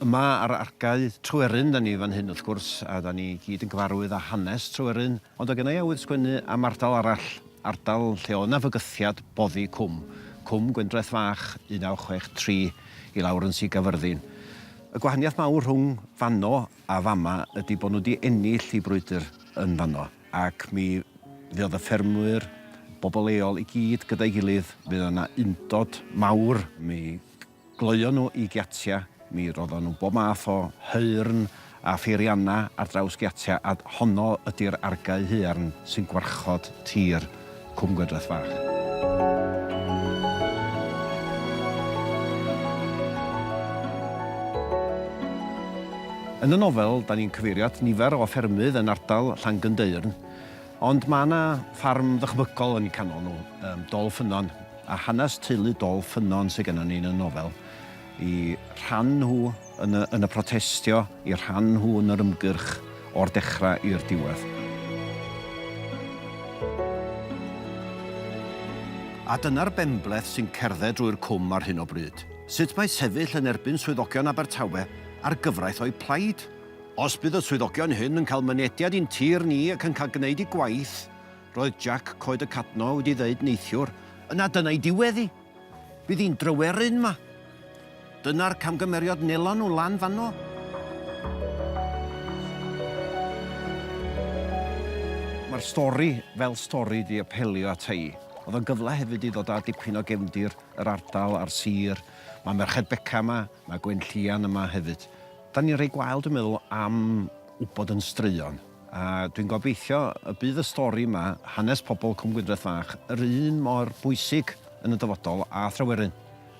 Yma ar argae Tryweryn 'da ni fan hyn wrth gwrs, a 'da ni gyd yn gyfarwydd â hanes Tryweryn, ond oedd gynna i awydd sgwennu am ardal arall, ardal lle oedd 'na fygythiad boddi Cwm, Cwm Gwyndraeth Fach 1963 i lawr yn Sir Gaerfyrddin. Y gwahaniaeth mawr rhwng fanno a fama ydi bod nhw wedi ennill eu brwydr yn fanno ac mi fuodd y ffermwyr, bobl leol i gyd gyda'i gilydd, fuodd yna undod mawr, mi gloion nhw i giatia, mi roddon nhw bob math o haearn a pheirianna ar draws giatia a honno ydi'r argae haearn sy'n gwarchod tir. Cwm Gwydraeth Fach. Yn y nofel, da ni'n cyfeirio at nifer o ffermydd yn ardal Llangynddeyrn, ond mae yna ffarm ddychmygol yn eu canol nhw, Dol Ffynnon, a hanes teulu Dol Ffynnon sydd gennym ni yn y nofel. y rhan nhw yn y, yn y protestio, y rhan nhw yn yr ymgyrch o'r dechrau i'r diwedd. A dyna'r benbleth sy'n cerdded drwy'r cwm ar hyn o bryd. Sut mae sefyll yn erbyn swyddogion Abertawe ar gyfraith o'u plaid? Os bydd y swyddogion hyn yn cael mynediad i'n tir ni ac yn cael gwneud eu gwaith, roedd Jack Coed y Cadno wedi ddeud neithiwr, yna dyna'i diwedd hi. Bydd hi'n dryweryn 'ma. Dyna'r camgymeriad nelon nhw lan fanno. Mae'r stori fel stori 'di apelio ata i. Oedd o'n gyfle hefyd i ddod â dipyn o gefndir yr ardal a'r sir. Mae Merched Beca yma, mae Gwenllian yma hefyd. Dan ni'n rhoi gwael dwi'n meddwl am wybod yn straeon. A dwi'n gobeithio y bydd y stori yma, hanes pobl Cwm Gwyndreth Fach, yr un mor bwysig yn y dyfodol â Thryweryn.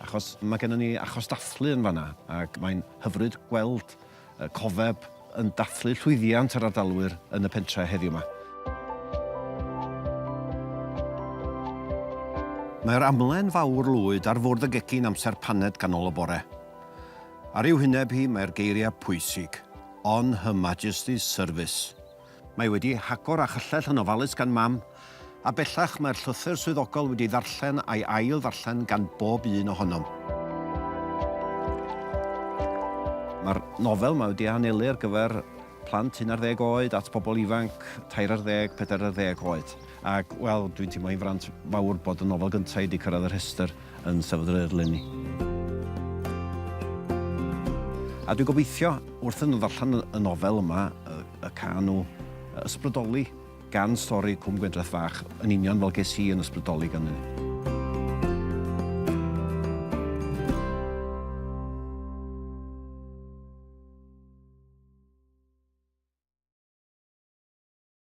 Achos mae gennym ni achos dathlu yn fanna, ac mae'n hyfryd gweld y cofeb yn dathlu llwyddiant yr ardalwyr yn y pentre heddiw 'ma. Mae'r amlen fawr lwyd ar fwrdd y gegin amser paned ganol y bore. Ar ei wyneb hi mae'r geiriau pwysig, On Her Majesty's Service. Mae wedi hagor a chyllell yn ofalus gan Mam, a bellach mae'r llythyr swyddogol wedi ddarllen a'i ail ddarllen gan bob un ohonom. Mae'r nofel mae wedi ei hanelu ar gyfer plant un ar ddeg oed at bobl ifanc tair ar ddeg, pedair ar ddeg oed. Ac, wel, dwi'n teimlo i'n fraint fawr bod y nofel gyntaf i wedi cyrraedd y rhestr yn Steddfod yr Urdd leni. A dwi'n gobeithio, wrth iddyn nhw ddarllen y nofel yma, y caen nhw ysbrydoli gan stori Cwm Gwendraeth Fach, yn union fel ges i yn ysbrydoli gan hynny.